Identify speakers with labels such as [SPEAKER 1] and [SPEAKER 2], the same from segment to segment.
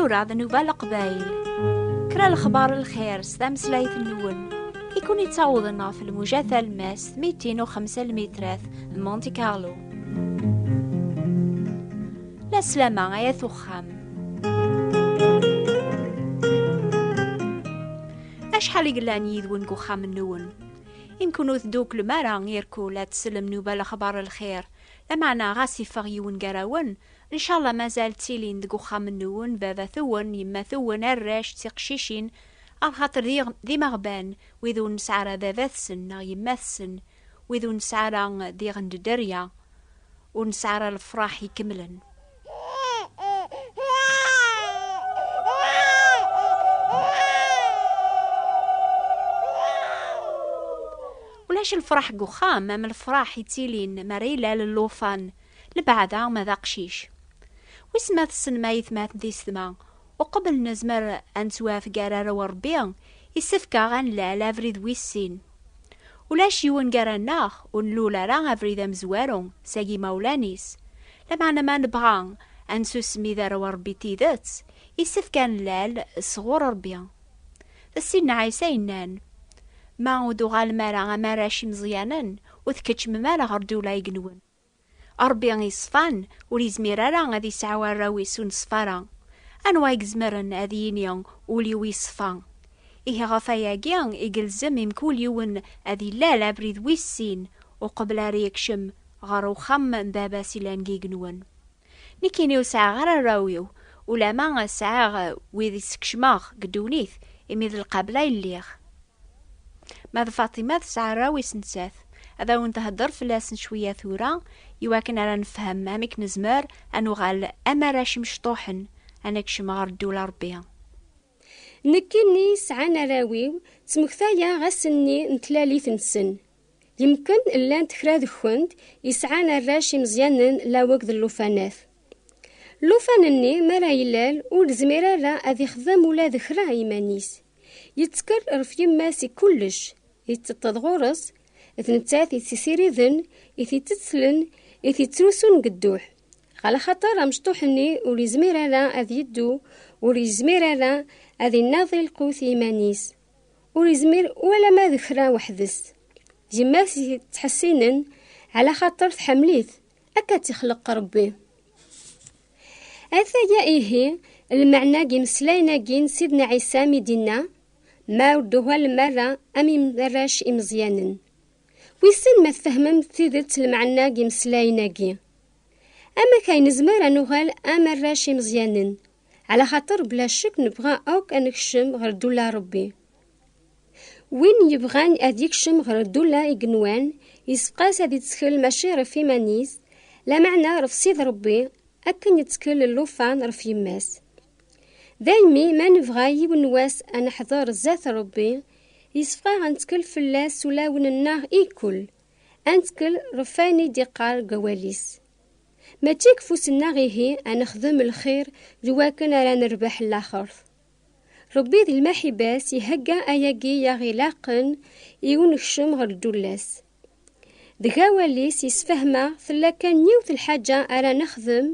[SPEAKER 1] tura d nuba leqbayl kra lexbar lxir s tameslayt nwen i kun yettawḍen ɣef lmuja talmast mitin u xemsa lmitrat n Monte Carlo la slama ay at uxxam acḥal i yellan yid-wen deg uxxam-nwen Imkun ur tedduklem ara irkul ad tsellem nuba lexbar lxir, lameɛna ɣas iffeɣ yiwen gar-awen, ncallah mazal ttilin deg uxxam-nwen baba-twen, yemma-twen, arrac, d tiqcicin, arxater d d imeɣban wid ur nesɛi ara baba-tsen neɣ yemma-tsen, wid ur nesɛi ara d iɣenddderya. Ur nesɛi ara lefraḥ ikemlen. Ulac lefraḥ deg uxxam am lefraḥ yettilin mi ara ilal llufan, lebɛada ma d aqcic. Wis ma tessnem ayetmaten tisetma, uqbel nezmer ad nettwafeg ar arraw n Rebbi, yessefk-aɣ ad nlal abrid wis sin. Ulac yiwen gar-aneɣ ur nlul ara abrid amezwaru seg yimawlan-is. Lameɛna ma nebɣa ad nsusmi d arraw n Rebbi n tidet, yessefk ad nlal sɣur Rebbi. D Ssid n Ɛisa yennan, Ma ur d-tuɣalem ara am arrac imeẓyanen, ur tkeččmem ara ɣer ddula n yigenwen. Ṛebbi iṣfan ur izmir ara ad isɛu arraw-is ur neṣfa ara. Anwa i izemren ad yini ul-iw iṣfa? Ihi ɣef wayagi i yelzem i mkul yiwen ad ilal abrid wis sin uqbel ara yekcem ɣer uxxam n Baba-s yellan deg yigenwen. Nekkini ur sɛiɣ ara arraw-iw ulamma sɛiɣ wid i skecmeɣ deg ddunit imi d lqabla i lliɣ. Ma d Faṭima tesɛa arraw is nettat. Ad awen-thedder fell-asen cwiya tura, i wakken ara nefhem amek nezmer ad nuɣal am arrac imecṭuḥen, ad nekcem ɣer ddul n Ṛebbi.
[SPEAKER 2] Nekkini sɛan arraw-iw, ttmektayeɣ ass-nni n tlalit-nsen. Yemken llant kra deg-kent i sɛan arrac imeẓyanen laweg d llufanat. Llufan-nni mi ara ilal, ur izmir ara ad ixdem ula d kra iman-is. Yettker ɣef yemma-s i kullec, yetteṭṭeḍ ɣur-s, d nettat i t-isiriden, i t-ittetlen, i t-ittrusun deg dduḥ. Ɣer axaṭer amecṭuḥ-nni ur yezmir ara ad yeddu, ur yezmir ara ad inaḍi lqut i yiman-is, ur yezmir ualama d kra weḥd-s. Yemma-s i t-ittḥessinen, ɛla xaṭer tḥemmel-it, akka tt-ixleq Rebbi. Ataya ihi lmeɛna n yimeslayen-agi n Sidna Ɛisa mi d-inna, Ma ur d-tuhalem ara am arrac imeẓyanen. Wissen ma tfehmem d tidet lmeɛna n yimeslayen-agi? Amek ay nezmer ad nuɣal am arrac imeẓyanen? Ɛlaxaṭer bla ccek nebɣa akk ad nekcem ɣer ddula n Ṛebbi. Win yebɣan ad yekcem ɣer ddula i yenwan, yessefqas ad yettkel mačči ɣef iman-is, lameɛna ɣef Sidi Rebbi, akken yettkel llufan ɣef yemma-s. Daymi ma nebɣa yiwen wass ad neḥḍer zdat Rebbi, yessefqaɣ ad nettkel fell-as s ulawen-nneɣ i kkul, ad nettkel ɣef wayen i d-yeqqar deg awal-is. Mačči deg ufus-nneɣ ihi ad nexdem lxir d wakken ara nerbeḥ laxert. Rebbi di lmaḥiba-s ihegga ayagi i aɣ-ilaqen i unekcem ɣer ddula-s. Deg awal-is yessefhem-aɣ tella kan yiwet lḥaǧa ara nexdem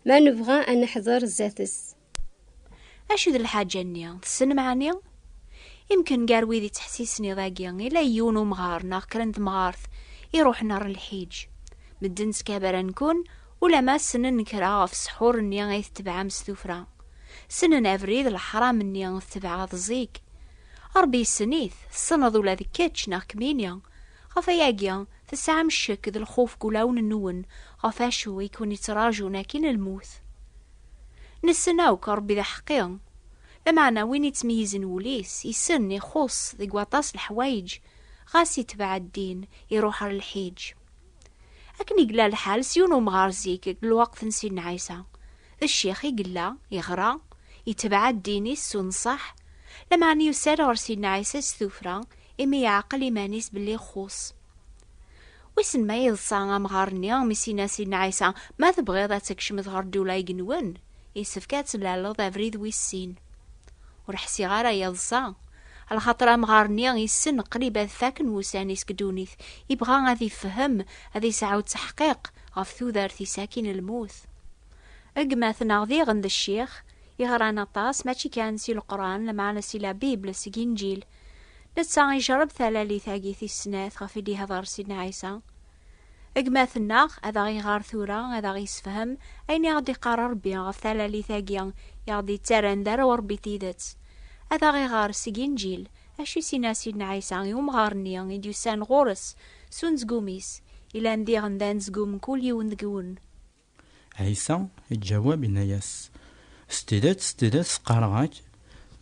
[SPEAKER 2] ma nebɣa ad neḥder zdat-s.
[SPEAKER 1] Acu d lḥaǧa-nni? Tessnem ɛni? Imken gar wid yettḥessisen iḍ-agi ila yiwen umɣar neɣ kra n temɣart iruḥen ɣer lḥiǧ. Medden ttkabaran-ken Ulamma ssnen kra ɣef ssḥur-nni ay tetebɛem s tuffra, ssnen abrid leḥram-nni tetebɛeḍ zik. Rebbi yessen-it, tessneḍ ula d kečč neɣ kemmini. Ɣef wayagi, tesɛam ccek d lxuf deg wulawen-nwen ɣef wacu i ken-yettraǧun akkin lmut. Nessen akk Rebbi d aḥeqqi. Lameɛna win yettmeyyizen wul-is, yessen, ixuṣṣ deg waṭas leḥwayeǧ, ɣas yetbeɛ ddin, iruḥ ɣer lḥiǧ. Akken i yella lḥal s yiwen umɣar zik deg lweqt n Sidna Ɛisa, d ccix i yella, yeɣra, yetbeɛ ddin-is s unṣaḥ, lameɛna yusa-d ɣer Sidna Ɛisa s tuffra imi yeɛqel iman-is belli ixuṣ. Wissen ma yeḍsa amɣar-nni mi s-yenna Sidna Ɛisa, Ma tebɣiḍ ad tkecmeḍ ɣer ddula igenwen, yessefk ad tlalleḍ abrid wis sin. Ur ḥsiɣ ara yeḍsa, lxaṭer amɣar-nni yessen qrib ad faken wussan-is deg ddunit, yebɣa ad ifhem, ad yesɛu ttaḥqiq ɣef tudert-is akkin lmut. Gma-tneɣ diɣen d ccix, yeɣran aṭas mačči kan si Leqran, lmeɛna si la Bible, seg Inǧil. Netta ijerreb talalit-agi tis snat ɣef i d-ihder Sidna Ɛisa. Gma-tneɣ ad aɣ-iɣer tura, ad aɣ-isefhem ayen i aɣ-d-iqqar Ṛebbi ɣef talalit-agi i aɣ-d-ittarran d arraw n Ṛebbi n tidet. Ad aɣ-iɣer seg Inǧil acu i s-inna Sidna Ɛisa i umɣar-nni i d-yusan ɣur-s s unezgum-is, yellan diɣen d anezgum n kul yiwen deg-wen. Ɛisa
[SPEAKER 3] iǧawab, inna-yas, S tidet, s tidet, qqareɣ-ak,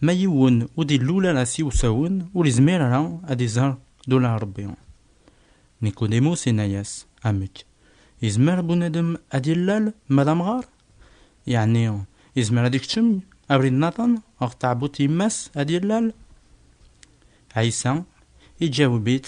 [SPEAKER 3] Ma yiwen ur d-illul ara s iwsawen, ur izmir ara ad iẓer dula Ṛebbi. Nikudimus inna-yas, Amek? Izmer bunadem ad illal ma d amɣar? Yeɛni izmer ad ikcem abrid naḍen ɣef tɛebbuḍt yemma-s ad illal? Ɛisa iǧaweb-it,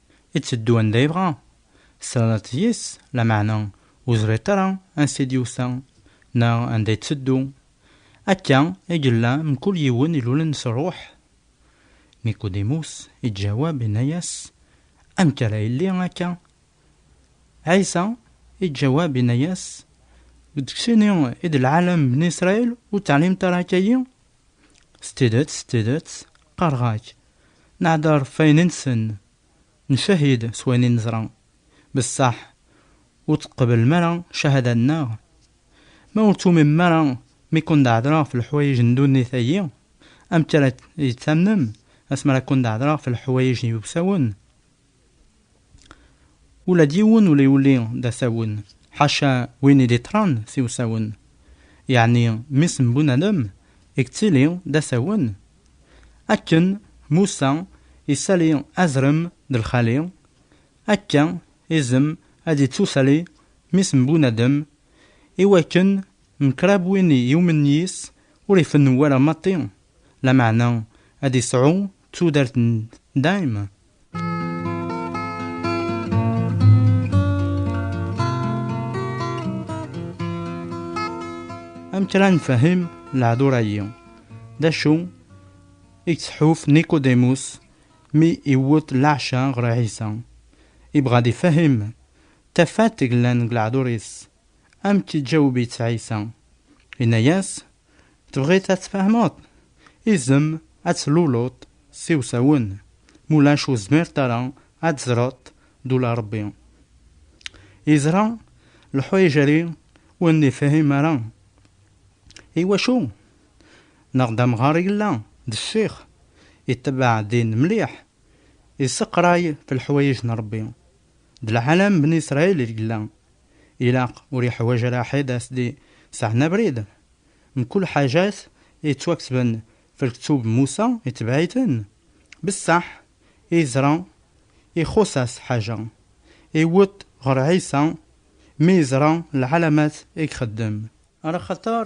[SPEAKER 3] Itteddu anda yebɣa, teslaleḍ-t yes, lameɛna ur teẓriḍ ara ansi i d-yusa neɣ anda itteddu. Akka i yella mkul yiwen ilulen s rruḥ. Nikudimus iǧǧawab inna-yas, Amek ara yelli akka? Ɛisa iǧǧawab inna-yas, Deg sin-i i d lɛalam n bni Israil ur teɛlimeḍ ara akka-yi? S tidet, s tidet, qqareɣ-ak, Nehder f ayen i nsen, ncahid s wayen i neẓra, bessaḥ ur teqblem ara cahada nneɣ? Ma ur tuwmimem ara mi kundehedreɣ f leḥwayeǧ n ddunit-agi, amek ara yi-d-tamnem asmi ara kundehedreɣ f leḥwayeǧ n yiwsawen? Ula d yiwen ur yuli d asawen, ḥaca win i d-iṭṭren s iwsawen. Yeɛni mmi-s n Bunadem i yettili d asawen? Akken Musa isali azrem d lxali, akka izem ad ittusali mmi-s n Bunadem, i wakken mkrab win i yumen yis ur ifennu ara maṭi, lameɛna ad isɛu tudert n dayem. amek ara nfehhem lehdur-agi? D acu i yettḥuf Nicodemus mi iwwet leɛca ɣer Ɛisa? Ibɣa ad ifehhem tafat yellan deg lehdur-is. Amek iǧaweb-itt Ɛisa? Yenna-yas, Tebɣiḍ ad tfehmeḍ? Izem ad tluleḍ s iwsawen, mulac ur zmirt ara ad teẓreḍ d ula Ṛebbi. Yeẓra leḥwayeǧ-agi ur nifhim ara. Iwacu? Neɣ d amɣar i yella, d ccix, itebbeɛ ddin mliḥ, isseqray f leḥwayeǧ n Ṛebbi. D lɛalam n Bni Sṛayil i yella ilaq ur yeḥwaǧ ara ḥed a s-d-iseɛen abrid. Mkul ḥaǧat yettwaksben f lktub Musa itebɛ-iten, bessaḥ i yeẓra ixuṣ-as ḥaǧa, iwweḍ ɣer Ɛisa mi yeẓra lɛalamat i ixeddem. Ar axater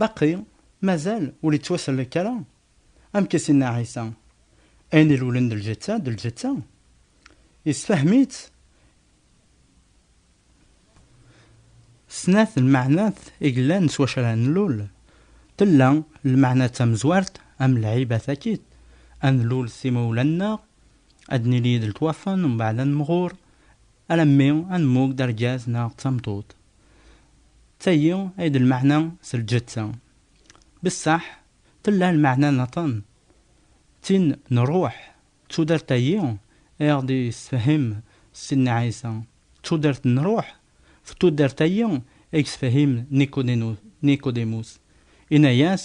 [SPEAKER 3] Baqi mazal ur yettwasellek ara, amek i s-yenna Ɛisa, Ayen ilulen d lǧetta, d lǧetta. Yessefhem-itt snat lmeɛnat i yellan s wacu ara nlul. Tella lmeɛna tamezwart, am lɛiba takit, ad nlul s imawlan-nneɣ, ad nili d letwafen, mbeɛd ad nemɣur, Alammi ad nemmug d argaz neɣ d tameṭṭut. D tayi ay d lmeɛna s lǧetta. Bessaḥ, tella lmeɛna niḍen, d tin n ṛṛuḥ, d tudert-ayi ay aɣ-d-yessefhem Sidna Ɛisa, d tudert n ṛṛuḥ, d tudert-ayi ay yessefhem Nikodinus, yenna-as,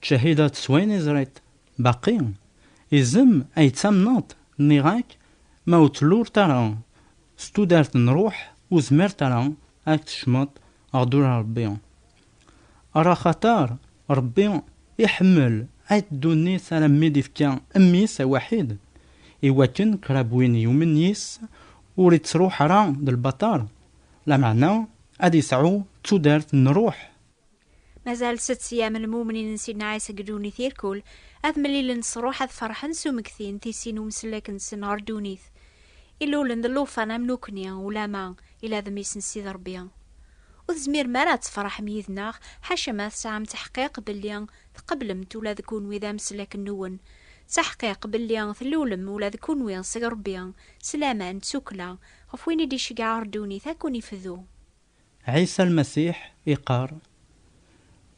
[SPEAKER 3] Tcahideḍ s wayen izriḍ, baqi izem ay ttamneḍ, nniɣ-ak ma ur tluleḍ ara s tudert n ṛṛuḥ ur zmireḍ ara ad tkecmeḍ ɣer ddura n Ṛebbi. Ɣer axaṭer Ṛebbi iḥemmel ayt ddunit alammi d-ifka Mmi-s awḥid, i wakken krab win yumen yis-s ur ittṛuḥ ara d lbaṭer, lameɛna ad isɛu tudert n ṛṛuḥ. Mazal
[SPEAKER 1] sett sya-m lmumnin n Sidna Ɛisa deg ddunit irkul, ad mlilen s ṛṛuḥ, ad ferḥen s umekti n tissi n umsellek-nsen ɣer ddunit. Illulen d llufan am nekkni, ulamma ila d mmi-s n Sidi Ṛebbi. Ur tezmirem ara ad tefṛeḥem yid-neɣ, ḥaca ma tesɛam taḥqiq belli tqeblem-t ula d kunwi d ameslek-nwen, d taḥqiq belli tellulem ula d kunwi seg Ṛebbi, s laman, d tukkla, ɣef win i d-iceggeɛ ɣer ddunit ad ken-ifdu. Ɛisa
[SPEAKER 3] Lmasiḥ iqqar,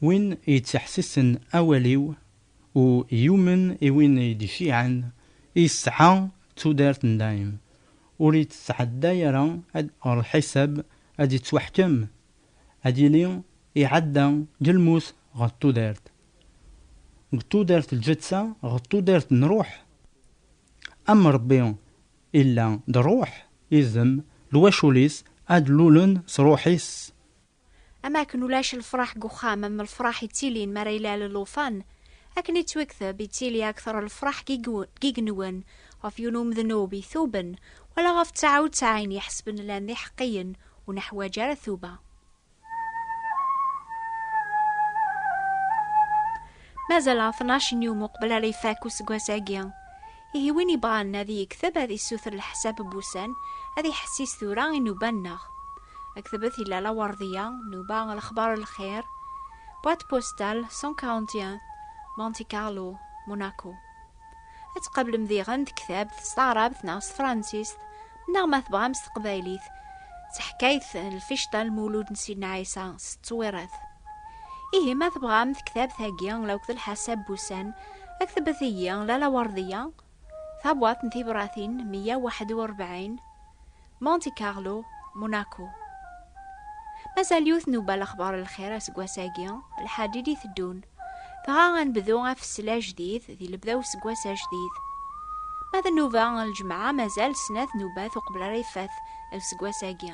[SPEAKER 3] Win yettḥessisen awal-iw, u yumen i win i d-iciɛen, yesɛa tudert n dayem, ur yettɛedday ara ɣer lḥisab ad d-yettwaḥkem, ad yili iɛedda deg lmut ɣer tudert, deg tudert lǧetta ɣer tudert n ṛṛuḥ, am Ṛebbi. Illa d ruḥ, izem, lwacul-is a d-lulen s ruḥ-is. Am
[SPEAKER 1] akken ulac lefraḥ deg uxxam am lefraḥ ittilin mi ara ilal llufan, akken i ttwekteb, ittili akteṛ lefraḥ deg igenwen ɣef yiwen umednub ituben, wala ɣef ţaɛa u ţaɛin iḥesben llan d iḥeqqiyen ur neḥwaǧ ara tuba. mazal tnac n yum uqbel ara ifak useggas-agi. Ihi win yebɣan ad yekteb ad yessuter leḥsab n wussan ad iḥessis tura inuban-nneɣ. Aktebet yella lawerdiya, nuba lexbar lxir, boîte postale 141, Monte Carlo, Monaco. Ad tqablem diɣen tektabt s taɛrabt neɣ s tefransist, neɣ ma tebɣam s teqbaylit, d taḥkayt n lficṭa n lmulud n Sidna Ɛisa s ttwirat. Ihi ma tebɣam tektabt-agi akked lḥasab n wussan, ktebet-iyi Lalla Werdiya, Tabwaḍt n Tibṛatin meyya u waḥed u ṛebɛin, Monte Carlo, Monaco. Mazal yiwet nubba lexbar n lxir aseggas-agi, lḥaǧij i teddun. Dɣa ad nebdu afessel ajdid di lebda useggas ajdid. Ma d nnuba n lǧemɛa mazal snat nubbat uqbel ara yeffet lseggas-agi.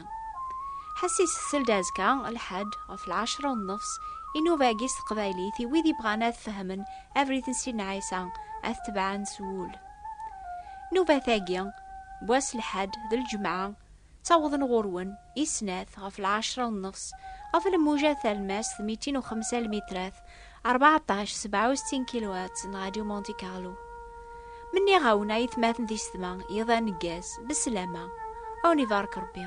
[SPEAKER 1] Ḥess isessel-d azekka, lḥaǧ, ɣef lɛecra u nnefs, i nnuba-agi s teqbaylit i wid yebɣan ad fehmen Everything Sidna Ɛisa, ad t-tebɛen s wul. Nubat-agi, n wass lḥad d lǧemɛa, ttawḍen ɣur-wen i snat ɣef lɛecra u nnefs, ɣef lmuja talmast mitin u xemsa lmitrat, rbeɛṭac, sebɛa u settin kiluhertz n Radio Monte Carlo. Ma nniɣ-awen a yetmaten tisetma, yiḍ aneggaz, besslama, a wen ibarek Rebbi.